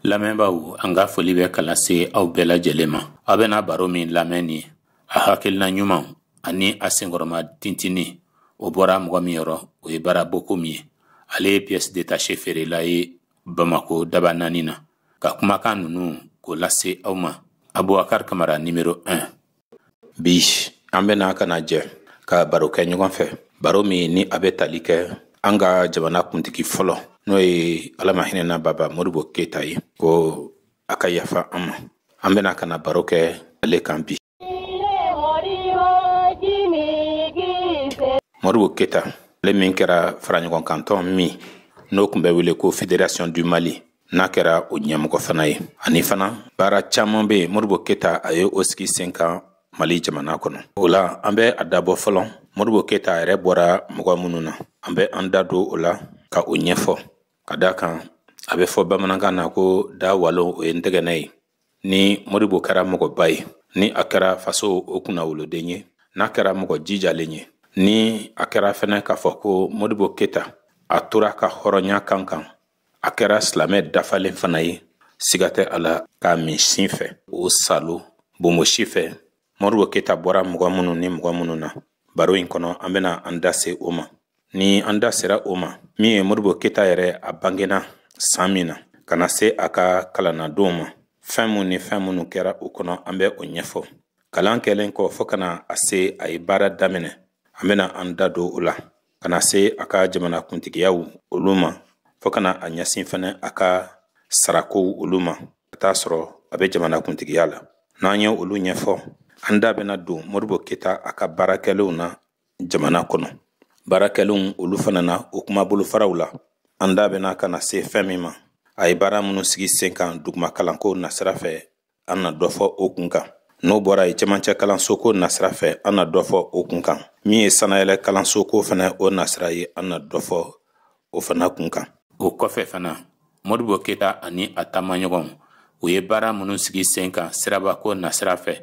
lamɛnbaaw an ka foli bɛ ka lase aw bɛɛ lajɛlen ma aw bɛna baro min lamɛn ni a hakilina ɲumanw ani a senkɔrɔma tintini o bɔra mɔgɔ min yɔrɔ o ye bara bokumu ye ale ye pièce détachée feerela ye bamako dabanani na ka kumakan ninnu k'o lase aw ma abubakar kamara nimero 1 bi an bɛna ka na jɛ ka baro kɛ ɲɔgɔn fɛ baro min ni a bɛ tali kɛ an ka jamana kuntigi fɔlɔ n'o ye ala ma hinɛna baba modibo keyita ye ko a ka yafa an ma an bɛna ka na baro kɛ ale kan bi modibo keyita ale min kɛra faraɲɔgɔnkantɔn min n'o tun bɛ wele ko fédération du mali n'a kɛra o ɲɛmɔgɔ fana ye ani fana baara caaman bɛ yen modibo keyita a ye o sigi sen kan mali jamana kɔnɔ o la an bɛ a dabɔ fɔlɔ modibo keyita a yɛrɛ bɔra mɔgɔ minnu na an bɛ an da don o la ka o ɲɛfɔ ka da kan a bɛ fɔ bamanankan na ko da walo o ye ntɛgɛnɛ ye ni modibo kɛra mɔgɔba ye ni a kɛra faso o kunnawoloden ye n'a kɛra mɔgɔ jijalen ye ni a kɛra fɛnɛ k'a fɔ ko modibo keyita a tora a ka hɔrɔnya kan kan a kɛra silamɛ dafalen fana ye siga tɛ a la k'a min sin fɛ o salo bonbonsi fɛ modibo keyita bɔra mɔgɔ minnu ni mɔgɔ minnu na baro in kɔnɔ an bɛna an da se o ma ni an da sera o ma min ye modibo keyita yɛrɛ a bangena san min na ka na se a ka kalannadonw ma fɛn minnu ni fɛn minnu kɛra o kɔnɔ an bɛ o ɲɛfɔ kalan kɛlen kɔ fɔɔ ka na se a ye baara daminɛ an bɛna an da don o la ka na se a ka jamana kuntigiyaw olu ma fo ka na a ɲɛsin fɛnɛ a ka sarakow olu ma ka t'a sɔrɔ a bɛ jamana kuntigiya la n'an ye olu ɲɛfɔ an da bɛna don modibo keyita a ka baarakɛlenw na jamana kɔnɔ baarakɛlenw olu fana na o kuma bolofaraw la an da bɛna ka na se fɛn min ma a ye baara minnu sigi sen kan duguma kalanko nasira fɛ an na dɔ fɔ o kun kan n'o bɔra yen cɛmancɛ kalansoko nasira fɛ an na dɔ fɔ o kun kan min ye sanayɛlɛ kalansoko fana o nasira ye an na dɔ fɔ o fana kun kan o kɔfɛ fana modibo keyita ani a taamaɲɔgɔnw u ye baara minnu sigi sen kan sirabako nasira fɛ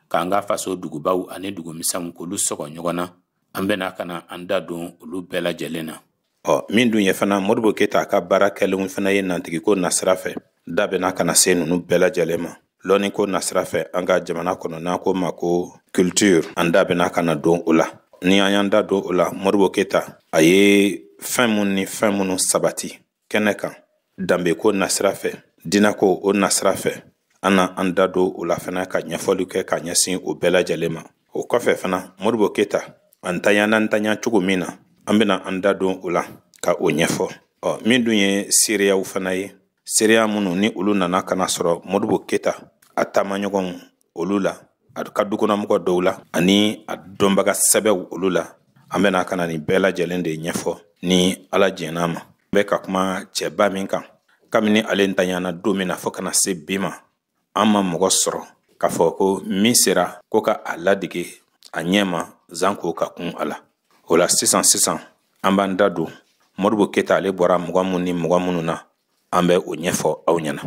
k'an ka faso dugubaw ani dugumisɛnw k'olu sɔgɔ ɲɔgɔn na an bɛna ka na an da don olu bɛɛ lajɛlen na ɔ min dun ye fana modibo keyita a ka baarakɛlenw fana ye nantigiko nasira fɛ da bɛna ka na se ninnu bɛɛ lajɛlen ma lɔnniko nasira fɛ an ka jamana kɔnɔ n'an k'o ma ko culture an da bɛna ka na don o la ni an y'an da don o la modibo keyita a ye fɛn minnu ni fɛn minnu sabati kɛnɛ kan danbeko nasira fɛ diinako o nasira fɛ an na an da don o la fana ka ɲɛfɔli kɛ ka ɲɛsin o bɛɛ lajɛlen ma o kɔfɛ fana modibo keyita a ntanyana ntanya cogo min na an bɛna an da don o la ka o ɲɛfɔ ɔ min dun ye seereyaw fana ye seereya minnu ni olu nana ka na sɔrɔ modibo keyita a taamaɲɔgɔnw olu la a ka dukɔnɔmɔgɔ dɔw la ani a dɔnbaga sɛbɛw olu la an bɛna ka na nin bɛɛ lajɛlen de ɲɛfɔ ni ala jɛn'a ma bɛ ka kuma cɛba min kan kabini ale ntanyana don min na fɔɔ ka na se bi ma an ma mɔgɔ sɔrɔ k'a fɔ ko min sera ko ka a ladege a ɲɛ ma janko ka kun a la o la sisan sisan an b'an da don modibo keyita ale bɔra mɔgɔ minnu ni mɔgɔ minnu na an bɛ o ɲɛfɔ aw ɲɛna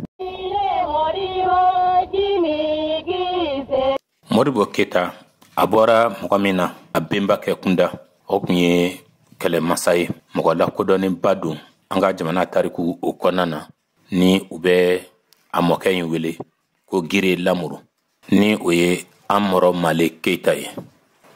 modibo keyita a bɔra mɔgɔ min na a benba kɛ kunda o tun ye kɛlɛmasa ye mɔgɔ lakodɔnnenba don an ka jamana tariku o kɔnɔna na ni u bɛ a mɔkɛ in wele ko gire lamuru ni o ye amɔrɔ male keyita ye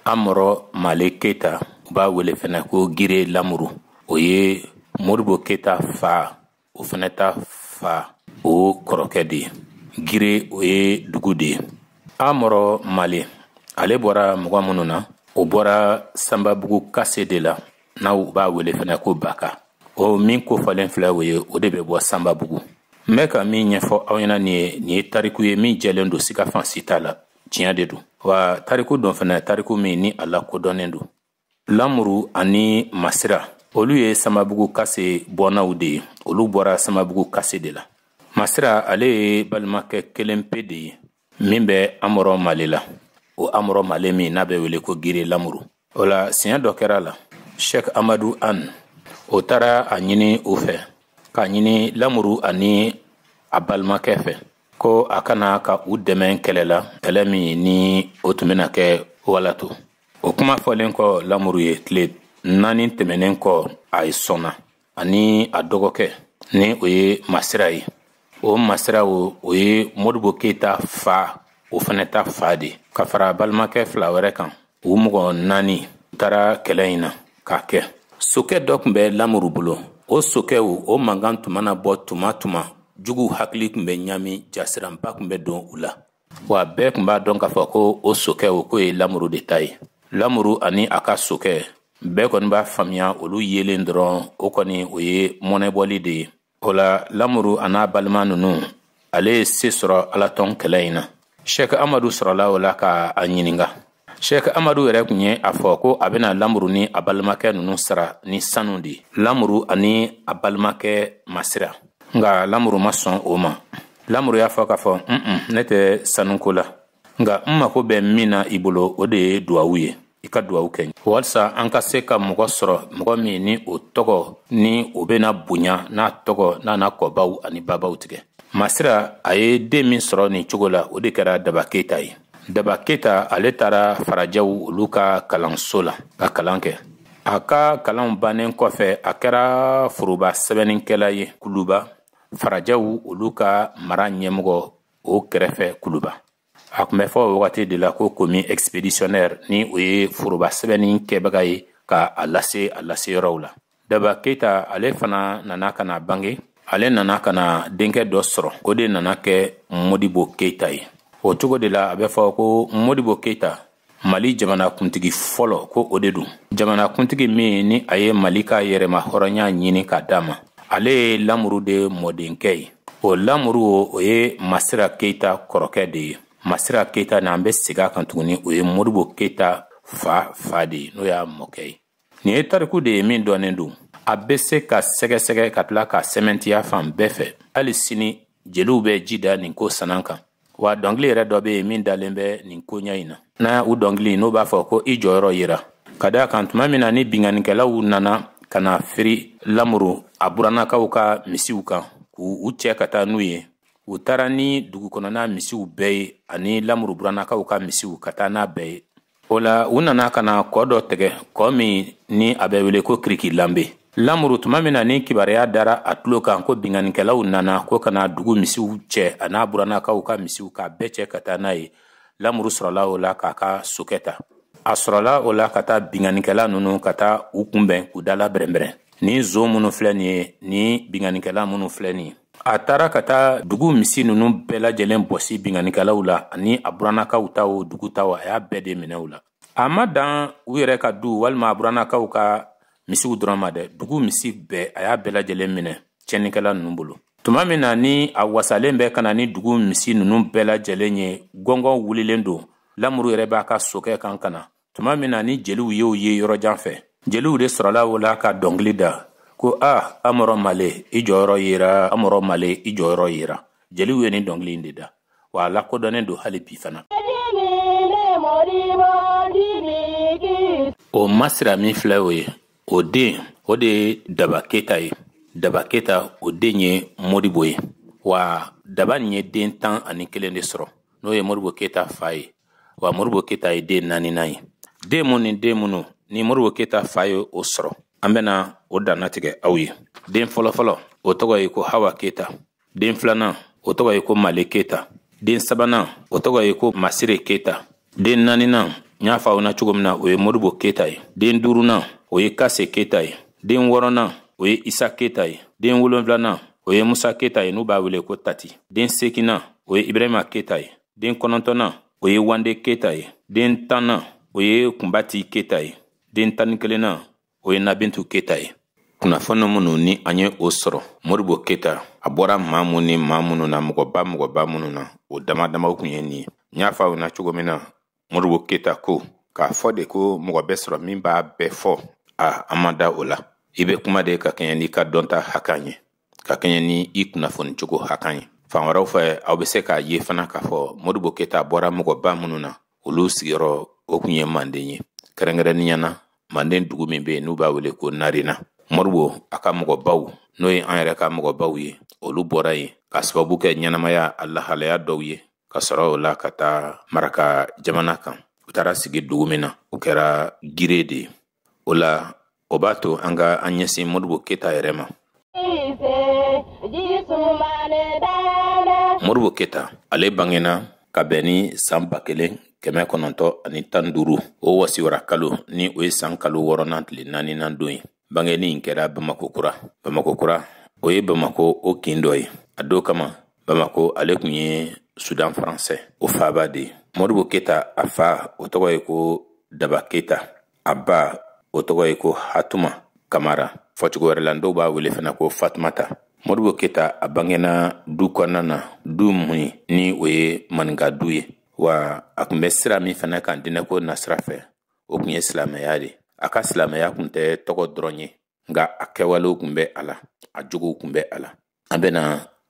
amɔrɔ male keyita u b'a wele fɛnɛ ko gire lamuru o ye modibo keyita fa o fana ta fa o kɔrɔkɛ de ye gire o ye dugu de ye amɔrɔ male ale bɔra mɔgɔ minnu na o bɔra sanbabugu kase de la n'u b'a wele fana ko baka o min kofɔlen filɛ o ye o de bɛ bɔ sanbabugu n bɛ ka min ɲɛfɔ aw ɲɛna nin ye nin ye tariku ye min jɛlen don siga fan si t'a la tiɲɛ de don wa tariku don fana tariku min ni a lakodɔnnen don lamuru ani masira olu ye sanbabugu kase bɔnnaw de ye olu bɔra sanbabugu kase de la masira ale ye balimakɛ kelen pe de ye min bɛ amɔrɔ male la o amɔrɔ male min n'a bɛ wele ko gire lamuru o la siɲɛ dɔ kɛra la shɛk amadu an o taara a ɲini u fɛ k'a ɲini lamuru ani a balimakɛ fɛ ko a ka na ka u dɛmɛ kɛlɛ la kɛlɛ min ni o tun bɛna kɛ walato o kuma fɔlen kɔ lamuru ye tile naani tɛmɛnen kɔ ale sɔnna ani a dɔgɔkɛ ni o ye masira ye o masira o o ye modibo keyita fa o fana ta fa de ka fara balimakɛ fila wɛrɛ kan u mɔgɔ naani u taara kɛlɛ in na k'a kɛ sokɛ dɔ tun bɛ lamuru bolo o sokɛ o mankan tun mana bɔ tuma tuma juguw hakili tun bɛ ɲami jasiranba tun bɛ don u la wa bɛɛ tun b'a dɔn k'a fɔ ko o sokɛ k'o ye lamuru de ta ye lamuru ani a ka sokɛ bɛɛ kɔni b'a faamuya olu yelen dɔrɔn o kɔni o ye mɔnɛbɔli de ye o la lamuru an'a balima nunu ale ye se sɔrɔ alatɔn kɛlɛ in na shɛk amadu sɔrɔla o la ka a ɲininga Sheikh Amadu yɛrɛ tun ye a fɔ ko a bɛna lamuru ni a balimakɛ ninnu sara ni sanu de ye lamuru ani a balimakɛ masira nka lamuru ma sɔn o ma lamuru y'a fɔ k'a fɔ un ne tɛ sanuko la nka n mako bɛ min na i bolo o de ye duwawu ye i ka duwawu kɛ walisa an ka se ka mɔgɔ sɔrɔ mɔgɔ min ni o tɔgɔ ni o bɛna bonya n'a tɔgɔ n'a na kɔbaw ani babaw tigɛ masira a ye den min sɔrɔ nin cogo la o de kɛra daba keyita ye daba keyita ale taara farajɛw olu ka kalanso la ka kalan kɛ a ka kalanw bannen kɔfɛ a kɛra foroba sɛbɛnnikɛla ye kuluba farajɛw olu ka mara ɲɛmɔgɔ o kɛrɛfɛ kuluba a tun bɛ fɔ o wagati de la ko commis expéditionnaire ni o ye foroba sɛbɛnni kɛbaga ye ka a lase a laseyɔrɔw la daba keyita ale fana nana ka na bange ale nana ka na denkɛ dɔ sɔrɔ o de nana kɛ modibo keyita ye o cogo de la a bɛ fɔ ko modibo keyita mali jamanakuntigi fɔlɔ ko o de don jamanakuntigi min ni a ye mali ka yɛrɛmahɔrɔnya ɲini ka d'a ma ale ye lamuru de mɔdenkɛ ye o lamuru o ye masira keyita kɔrɔkɛ de ye masira keyita ni an bɛ segi a kan tuguni o ye modibo keyita fa fa de ye n'o y'a mɔkɛ ye nin ye tariku de ye min dɔnnen don a bɛ se ka sɛgɛsɛgɛ ka tila ka sɛmɛntiya fan bɛɛ fɛ hali sini jeliw bɛ ji da nin ko sanan kan wa dɔnkili yɛrɛ dɔ bɛ yen min dalen bɛ nin koɲa in na na o dɔnkili n'u b'a fɔ ko i jɔyɔrɔ yira ka d'a kan tuma min na ni binkannikɛlaw nana ka na firi lamuru a burannakaw ka misiw kan k'u cɛ ka taa n'u ye u taara ni dugukɔnɔna misiw bɛɛ ye ani lamuru burannakaw ka misiw ka taa n'a bɛɛ ye o la u nana ka na kɔ dɔ tɛgɛ kɔ min ni a bɛ wele ko kiriki lanbe lamuru tuma min na ni kibaruya dara a tulo kan ko binkannikɛlaw nana ko ka na dugu misiw cɛ an'a burannakaw ka misiw k'a bɛɛ cɛ ka taa n'a ye lamuru sɔrɔla o la k'a ka sokɛ ta a sɔrɔla o la ka taa binkannikɛla ninnu ka taa u kunbɛn k'u dala bɛrɛnbɛrɛn ni nson minnu filɛ nin ye ni binkannikɛla minnu filɛ nin ye a taara ka taa dugu misi nunu bɛɛ lajɛlen bɔsi binkannikɛlaw la ani a burannakaw ta o dugu ta o a y'a bɛɛ de minɛ u la a ma dan u yɛrɛ ka du walima a burannakaw ka misiw dɔrɔn ma dɛ dugu misi bɛɛ a y'a bɛɛ lajɛlen minɛ tiɲɛnikɛla nunu bolo tuma min na ni a wasalen bɛ ka na ni dugu misi nunu bɛɛ lajɛlen ye gɔngɔn wulilen don lamuru yɛrɛ b'a ka sokɛ kan ka na tuma min na ni jeliw y'o ye yɔrɔ jan fɛ jeliw de sɔrɔla o la ka dɔnkili da ko a amɔrɔ male i jɔyɔrɔ yera amɔrɔ male i jɔyɔrɔ yera jeliw ye nin dɔnkili in de da wa a lakodɔnnen don hali bi fana o masira min filɛ o ye o den o de ye daba keyita ye daba keyita o den ye modibo ye wa daba nin ye den tan ani kelen de sɔrɔ n'o ye modibo keta fa ye wa modibo keta ye den naaninan ye den mun ni den minnu ni modibo keta fa ye o sɔrɔ an bɛna o dannatigɛ aw ye den fɔlɔfɔlɔ o tɔgɔ ye ko hawa keta den filanan o tɔgɔ ye ko male keta den sabanan o tɔgɔ ye ko masire keta den naaninan n y'a fɔ aw na cogo min na o ye modibo keta ye den duurunan o ye kase keta ye den wɔɔrɔnan o ye isa keta ye den wolonfilanan o ye musa keta ye n'u b'a wele ko tati den seginnan o ye ibrahima keta ye den kɔnɔntɔnnan o ye wande keta ye den tannan o ye kunbati keta ye den tan ni kelennan o ye nabintu keta ye kunnafoni minnu ni an ye o sɔrɔ modibo keta a bɔra maa minnu ni maa minnu na mɔgɔba mɔgɔba minnu na o dama damaw kun ye nin ye n y'a fɔ aw na cogo min na modibo keta ko k'a fɔ de ko mɔgɔ bɛ sɔrɔ min b'a bɛɛ fɔ a an ma da o la i bɛ kuma de ka kɛɲɛ n'i ka dɔnta hakan ye ka kɛɲɛ ni i kunnafoni cogo hakan ye fan wɛrɛw fɛ aw bɛ se k'a ye fana k'a fɔ modibo keta bɔra mɔgɔba minnu na olu sigiyɔrɔ o kun ye manden ye kɛrɛnkɛrɛnnenya na manden dugu min bɛ yen n'u b'a wele ko narena modibo a ka mɔgɔbaw n'o ye an yɛrɛ ka mɔgɔbaw ye olu bɔra yen ka sababu kɛ ɲɛnamaya a lahalaya dɔw ye ka sɔrɔ o la ka taa maraka jamana kan u taara sigi dugu min na o kɛra gire de ye o la o b'a to an ka an ɲɛsin modibo keta yɛrɛ ma modibo keta ale bangena ka bɛn ni san ba kelen kɛmɛ kɔnɔntɔ ani tan duuru o wasiwara kalo ni o ye san kalo wɔɔrɔnan tile naaninan don ye bangenin in kɛra bamakɔ kura bamakɔ kura o ye bamakɔ o kin dɔ ye a don kama bamakɔ ale kun ye sudan faransɛ o faaba de ye modibo keta a fa o tɔgɔ ye ko daba keta a ba o tɔgɔ ye ko hatuma kamara fɔcogo wɛrɛ la dɔw b'a wele fana ko fatumata modibo keta a bangena du kɔnɔna na du mun ni o ye maninka du ye wa a kun bɛ sira min fana kan dinɛko nasira fɛ o kun ye silamɛya de a ka silamɛya kun tɛ tɔgɔ dɔrɔn ye nka a kɛwalew kun bɛ a la a jogow kun bɛ a la an bɛna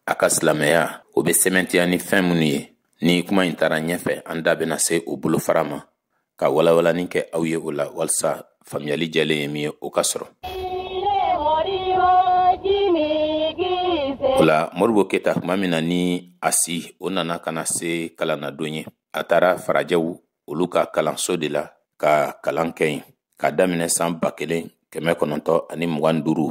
a ka silamɛya o bɛ sɛmɛntiya ni fɛn minnu ye ni kuma in taara ɲɛfɛ an da bɛna se o bolofara ma ka walawalani kɛ aw ye o la walisa faamuyali jɛlen ye min ye o ka sɔrɔ o la modibo keta tuma min na ni a si o nana ka na se kalannadon ye a taara farajɛw olu ka kalanso de la ka kalan kɛ yen ka daminɛ san ba kelen kɛmɛ kɔnɔntɔ ani mugan ni duuru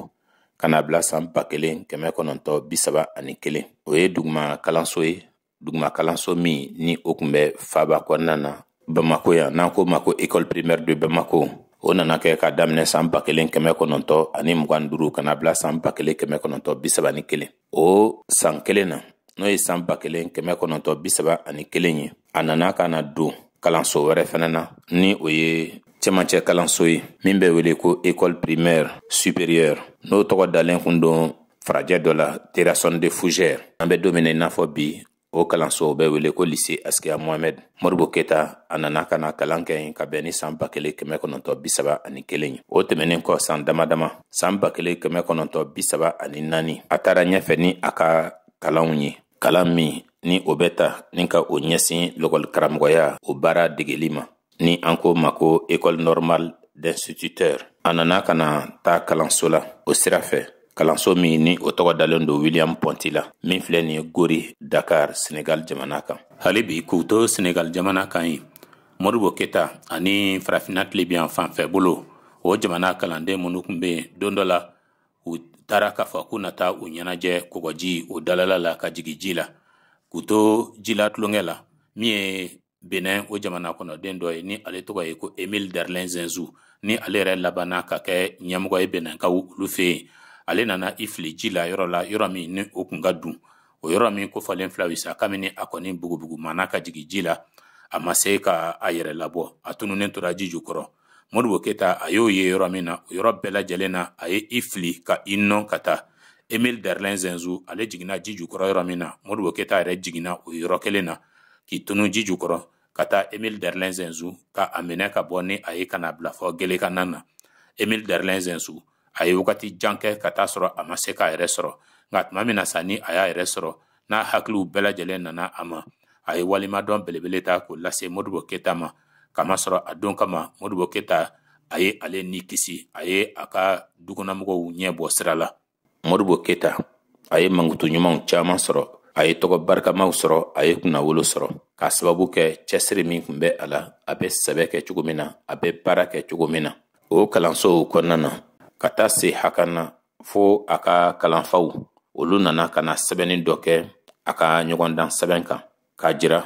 ka na bila san ba kelen kɛmɛ kɔnɔntɔ bi saba ani kelen o ye duguma kalanso ye duguma kalanso min ni o kun bɛ faaba kɔnɔna na bamako yan n'an ko ma ko école primaire de bamako o nana kɛ ka daminɛ san ba kelen kɛmɛ kɔnɔntɔ ani mugan duuru ka na bila san ba kelen kɛmɛ kɔnɔntɔ bi saba ni kelen o san kelen na n'o ye san ba kelen kɛmɛ kɔnɔntɔn bi saba ani kelen ye a nana ka na don kalanso wɛrɛ fɛnɛ na ni o ye cɛmancɛ kalanso ye min bɛ wele ko école primaire supérieure n'o tɔgɔ dalen kun don farajɛ dɔ la terrasson de fougères an bɛ don min na i n'a fɔ bi o kalansow bɛ wele ko lise asikiya mohamɛd modibo keta a nana ka na kalan kɛ yen ka bɛn ni saan ba kelen kɛmɛ kɔnɔntɔ bisaba ani kelen ye o tɛmɛnin kɔ saan dama dama saan ba kelen kɛmɛ kɔnɔntɔ bisaba ani naani a taara ɲɛfɛ ni a ka kalanw ye kalan min ni o bɛ ta ni ka o ɲɛsin lakɔli karamɔgɔya o baara degeli ma ni an k'o ma ko école normale d'instituteurs a nana ka na taa kalanso la o sira fɛ kalanso min ni o tɔgɔ dalen don william ponty la min filɛ nin ye gore dakar senegal jamana kan hali bi k'u to senegal jamana kan yen modibo keta ani farafina tilebinyanfan fɛ bolo o jamana kalanden minnu kun be yen don dɔ la u taara k'a fɔ k'u na taa u ɲɛnajɛ kɔgɔji o dalala la ka jigi ji la k'u to ji la tulonkɛ la min ye benin o jamana kɔnɔ den dɔ ye ni ale tɔgɔ ye ko emile derlin zinsou ni ale yɛrɛ labanna ka kɛ ɲɛmɔgɔ ye beninkaw olu fɛ yen ale nana i fili ji la yɔrɔ la yɔrɔ min ni o kun ka dun o yɔrɔ min kofɔlen filɛ aw ye sa kabini a kɔni bugubugu mana ka jigin ji la a ma se ka a yɛrɛ labɔ a tununnen tora ji jukɔrɔ modibo keta a y'o ye yɔrɔ min na o yɔrɔ bɛɛ lajɛlen na a ye i fili ka i nɔn ka taa emil derlin zinsou ale jiginna ji jukɔrɔ yɔrɔ min na modibo keta yɛrɛ jiginna o yɔrɔ kelen na k'i tunu ji jukɔrɔ ka taa emil derlin zinsou ka a minɛ ka bɔ ni a ye ka na bila fɔ gelekanan na emil derlin zinsou a ye wagati jan kɛ ka t'a sɔrɔ a ma se k'a yɛrɛ sɔrɔ nka tuma min na sa ni a y'a yɛrɛ sɔrɔ n'a hakiliw bɛɛ lajɛlen nana a ma a ye waleɲumandɔn belebele ta k'o lase modibo keta ma k'a masɔrɔ a don kama modibo keta a ye ale ni kisi a ye a ka dukɔnɔmɔgɔw ɲɛ bɔ sira la modibo keta a ye mankutu ɲumanw caman sɔrɔ a ye tɔgɔ barikamaw sɔrɔ a ye kunnawolo sɔrɔ k'a sababu kɛ cɛsiri min kun bɛ a la a bɛ sɛbɛ kɛ cogo min na a bɛ baara kɛ cogo min na o kalansow kɔnɔna na ka taa se hakɛ na fo a ka kalanfaw olu nana ka na sɛbɛnni dɔ kɛ a ka ɲɔgɔndan sɛbɛn kan k'a jira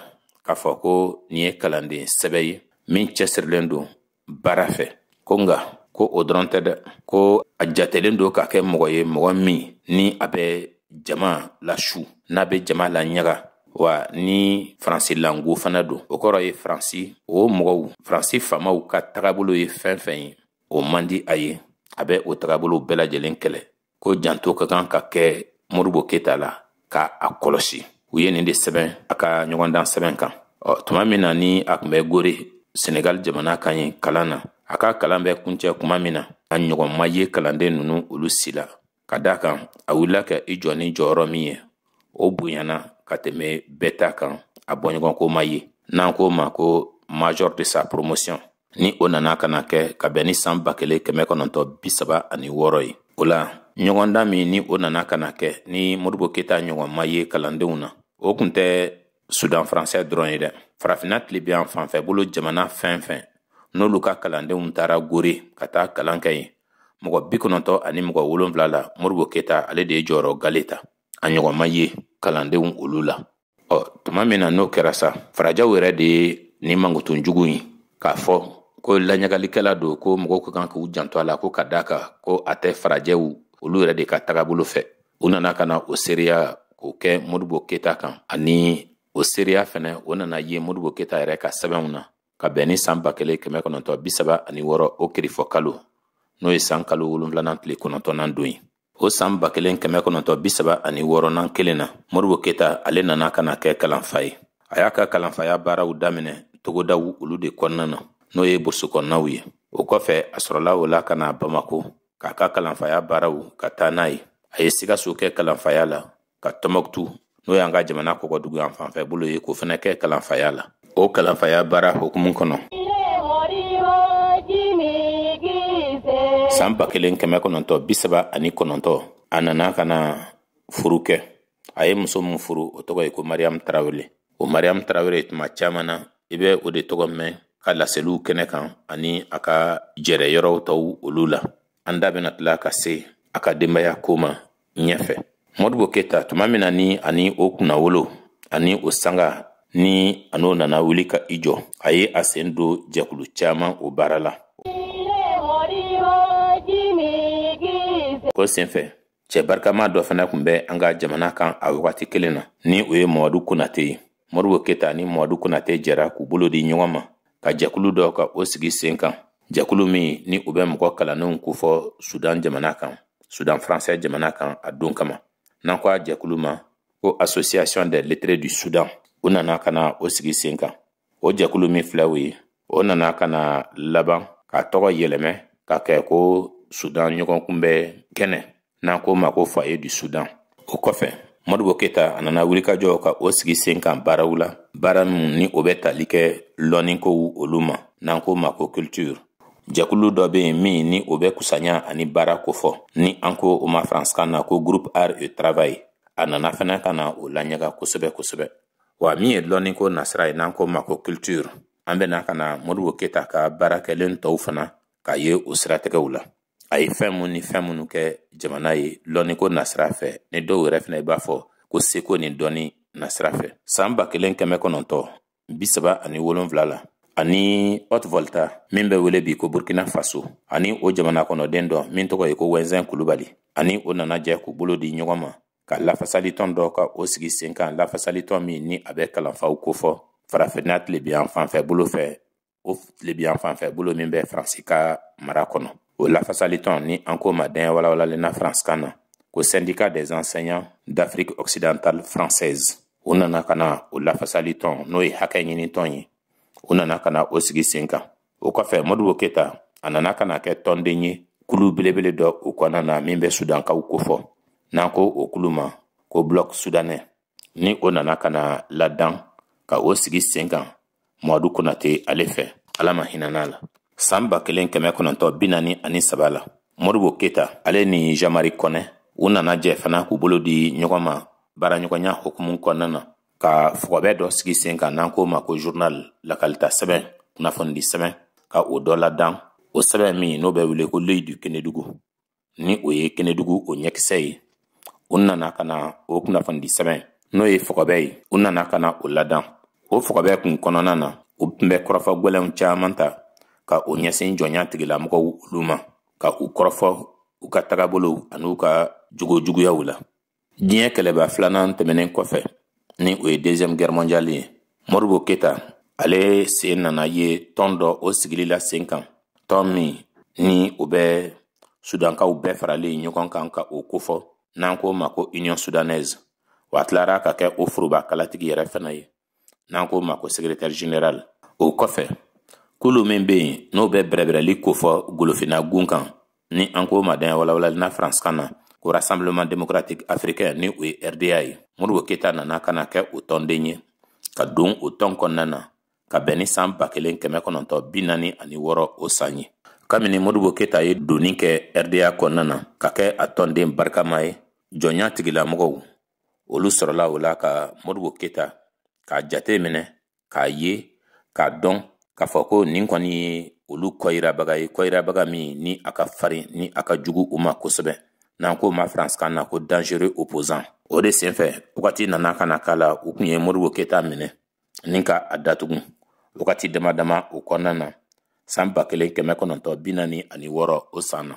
k'a fɔ ko nin ye kalanden sɛbɛ ye min cɛsirilen don baara fɛ ko nka ko o dɔrɔn tɛ dɛ ko a jatelen don ka kɛ mɔgɔ ye mɔgɔ min ni a bɛ jama lasu n'a bɛ jama laɲaga wa ni faransi lango fana don o kɔrɔ ye faransi o mɔgɔw faransi faamaw ka tagabolo ye fɛn fɛn ye o man di a ye a bɛ o tagabolow bɛɛ lajɛlen kɛlɛ ko janto ka kan ka kɛ modibo keta la ka a kɔlɔsi u ye nin de sɛbɛn a ka ɲɔgɔndan sɛbɛn kan ɔ tuma min na ni a kun bɛ gore senegal jamana kan yen kalan na a ka kalan bɛ kuncɛ kuma min na a ɲɔgɔn ma ye kalanden ninnu olu si la ka d'a kan a wulila ka i jɔ ni jɔyɔrɔ min ye o bonyana ka tɛmɛ bɛɛ ta kan a bɔɲɔgɔnko ma ye n'an k'o ma ko major de sa promotion ni o nana ka na kɛ ka bɛn ni san ba kelen kɛmɛ kɔnɔntɔ bi saba ani wɔɔrɔ ye o la ɲɔgɔndan min ni o nana ka na kɛ ni modibo keta ɲɔgɔn ma ye kalandenw na o kun tɛ sudan faransɛ dɔrɔn ye dɛ farafinna tilebin yan fanfɛ bolo jamana fɛn fɛn n'olu ka kalandenw taara gore ka taa kalan kɛ yen mɔgɔ bi kɔnɔntɔ ani mɔgɔ wolonfila la modibo keta ale de ye jɔyɔrɔ gale ta a ɲɔgɔn ma ye kalandenw olu la ɔ tuma min na n'o kɛra sa farajɛw yɛrɛ de ye nin mankutu jugu in k'a fɔ ko laɲagalikɛla don ko mɔgɔw ka kan k'u janto a la ko ka d'a kan ko a tɛ farajɛw olu yɛrɛ de ka tagabolo fɛ u nana ka na o seereya k'o kɛ modibo keta kan ani o seereya fɛnɛ o nana ye modibo keta yɛrɛ ka sɛbɛnw na ka bɛn ni saan ba kelen kɛmɛ kɔnɔntɔ bisaba ani wɔɔrɔ o kirifɔ kalo n'o ye saan kalo wolonfilanan tile kɔnɔntɔnan don ye o saan ba kelen kɛmɛ kɔnɔntɔ bisaba ani wɔɔrɔnan kelen na modibo keta ale nana ka na kɛ kalanfa ye a y'a ka kalanfaya baaraw daminɛ togodaw olu de kɔnɔna na n'o ye burusi kɔnɔnaw ye o kɔfɛ a sɔrɔla o la ka na bamako k'a ka kalanfaya baaraw ka taa n'a ye a ye sikaso kɛ kalanfaya la ka tɔmɔkutu n'o y'an ka jamana kɔgɔdugu yan fanfɛ bolo ye k'o fana kɛ kalanfaya la o kalanfaya baara hukumu kɔnɔ san ba kelen kɛmɛ kɔnɔntɔ bisaba ani kɔnɔntɔ a nana ka na furu kɛ a ye muso min furu o tɔgɔ ye ko mariyamu tarawele o mariyamu tarawele tuma caman na i bɛ o de tɔgɔ mɛn ka laseliw kɛnɛ kan ani a ka jɛrɛ yɔrɔw tɔw olu la an da bɛna tila ka se a ka denbaya ko ma ɲɛfɛ modibo keta tuma min na ni a ni o kunnawolo ani o sanga ni a n'o nana wuli ka i jɔ a ye a sen don jɛkulu caman o baara la ko senfɛ cɛ barikama dɔ fana kun bɛ an ka jamana kan a wagati kelen na ni o ye mamadu konate ye modibo keta ni mamadu konate jɛra k'u bolo di ɲɔgɔn ma ka jɛkulu dɔ ka o sigi sen kan jɛkulu min ni u bɛ mɔgɔ kalannenw kofɔ sudan jamana kan sudan faransɛ jamana kan a don kama n'an ko a jɛkulu ma ko association des lettrés du sudan u nana ka na o sigi sen kan o jɛkulu min filɛ o ye o nana ka na laban k'a tɔgɔ yɛlɛmɛ ka kɛ ko sudan ɲɔgɔn kunbɛ kɛnɛ n'an k'o ma ko foyer du sudan o kɔfɛ modibo keta a nana wulikajɔw ka o sigi sen kan baaraw la baara min ni o bɛ tali kɛ lɔnnikow olu ma n'an k'o ma ko culture jɛkulu dɔ bɛ yen min ni o bɛ kusanya ani baara kofɔ ni an ko o ma faransikan na ko groupe art et travail a nana fana ka na o laɲaga kosɛbɛ kosɛbɛ wa min ye lɔnni ko nasira ye n'an k'o ma ko culture an bɛ na ka na modibo keta ka baara kɛlen tɔw fana k'a ye o siratigɛw la a ye fɛn mun ni fɛn minnu kɛ jamana ye lɔnni ko nasira fɛ ni dɔw yɛrɛ fana i b'a fɔ ko seko ni dɔnni nasira fɛ san ba kelen kɛmɛ kɔnɔntɔ bi saba ani wolonfila la a ni haute volta min bɛ wele bi ko burkina faso a ni o jamana kɔnɔden dɔ min tɔgɔ ye ko wɛnzɛn kulubali a ni o nana jɛ k'u bolo di ɲɔgɔn ma ka lafasalitɔn dɔ ka o sigi sen kan lafasalitɔn min ni a bɛ kalanfaw kofɔ farafinna tilebinyanfan fɛ bolo fɛ o tilebinyanfan fɛ bolo min bɛ faransi ka mara kɔnɔ o lafasalitɔn ni an k'o ma daɲɛ walawalalen na faransikan na ko syndicat des enseignants d'afrique occidentale française u nana ka na o lafasalitɔn n'o ye hakɛ ɲinitɔn ye u nana ka na o sigi sen kan o kɔfɛ modibo keta a nana ka na kɛ tɔnden ye kulu belebele dɔ o kɔnɔna na min bɛ sudankaw kofɔ n'an ko o kulu ma ko bloc soudanais ni o nana ka na ladan ka o sigi sen kan mamadu konate ale fɛ ala ma hinana a la san ba kelen kɛmɛ kɔnɔntɔ bi naani ani saba la modibo keta ale ni jean marie kɔnɛ u nana jɛ fana k'u bolo di ɲɔgɔn ma baaraɲɔgɔnya hukumu kɔnɔna na ka fɔgɔbɛ dɔ sigi sen kan n'an k'o ma ko journal lakalita sɛbɛn kunnafonidi sɛbɛn ka o dɔ ladan o sɛbɛn min n'o bɛ wele ko l'œil du kenedugu ni o ye kenedugu o ɲɛkisɛ ye u nana ka na o kunnafonidi sɛbɛn n'o ye fɔgɔbɛ ye u nana ka na o ladan o fɔgɔbɛ kun kɔnɔna na u tun bɛ kɔrɔfɔ gwɛlɛnw caman ta ka u ɲɛsin jɔnya tigilamɔgɔw olu ma ka u kɔrɔfɔ u ka tagabolow an'u ka jogo juguyaw la diɲɛ kɛlɛba filanan tɛmɛnen kɔfɛ ni o ye deuxième guerre mondiale ye modibo keta ale sen nana ye tɔn dɔ o sigili la sen kan tɔn min ni o bɛ sudankaw bɛɛ faralen ɲɔgɔn kan ka o kofɔ n'an k'o ma ko union soudanaise wa a tilara ka kɛ o foroba kalatigi yɛrɛ fana ye n'an k'o ma ko secrétaire général o kɔfɛ kulu min bɛ yen n'o bɛ bɛrɛbɛrɛli kofɔ golofinna gun kan ni an k'o ma daɲɛ walawalali na faransikan na ko rassemblement démocratique africain ni o ye rda ye modibo keyita nana ka na kɛ o tɔnden ye ka don o tɔn kɔnɔna na ka bɛn ni san ba kelen kɛmɛ kɔnɔntɔ bi naani ani wɔɔrɔ o san ye kabini modibo keyita ye donni kɛ rda kɔnɔna na ka kɛ a tɔnden barikama ye jɔnya tigilamɔgɔw olu sɔrɔla o la ka modibo keta k'a jate minɛ k'a ye k'a dɔn k'a fɔ ko nin kɔni ye olu kɔyirabaga ye kɔyirabaga min ni a ka farin ni a ka jugu u ma kosɛbɛ n'an k'o ma faransikan na ko dangereux opposant o de senfɛ wagati nana ka na k'a la u kun u ye modibo keta minɛ ni ka a datugu wagati dama dama o kɔnɔna na san ba kelen kɛmɛ kɔnɔntɔn bi naani ani wɔɔrɔ o san na